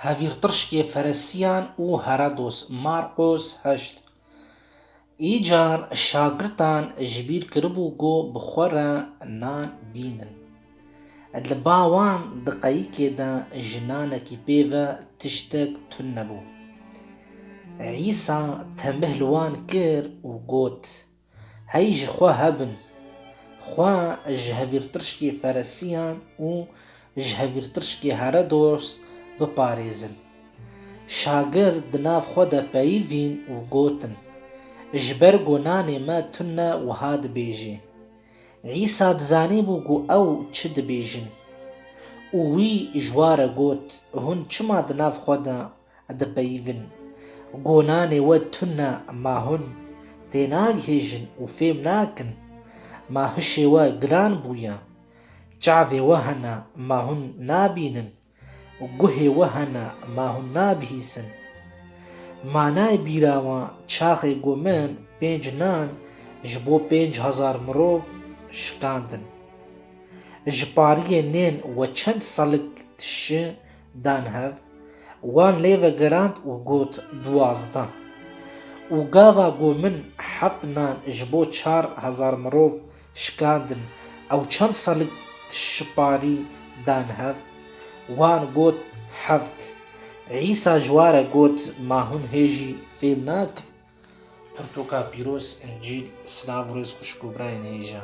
Hevîrtirşkê Feresiyan û Herodos Marqos heşt. Îcar şagirtan ji bîr kiribû ku bi xwe re nan bînin. Li ba wan di qeyikê de ji nanekî pê ve tiştek tun nebû. Îsa tenbih li wan kir û got, Hey ji xwe hebin. Xwe ji hevîrtirşkê feresiyan û ji hevîrtirşkê Heredos biparêzin. Şagird di nav xwe de peyivîn û gotin, Ji ber ku nanê me tun ne wiha dibêjê. Îsa dizanîbû ku ew çi dibêjin. Û wî ji wa re got, Hûn çima di nav xwe de Dipeyivin. Gonanê we tune ma hûn tênagihêjin û fêm nakin. Ma hişê we giran bûye. Çavê we hene ma hûn nabînin. Guhê we hene ma hûn nabihîsin. Manay bîra we çaxê ku min pênc nan ji bo pênc hezar mirov şikandin. Ji pariyê nên we çend selik tişi Dan hev, wan lê vegirand û got duwazdeh. Û gava ku min heft nan ji bo çar hezar mirov şikandin ew çend selik dişiparî dan hev? Wan got heft. Îsa ji ware got ma hûn hê jî fêm nakin? Pirtûka pîroz, Încîl, silav û rêz xwişk û birayên hêja.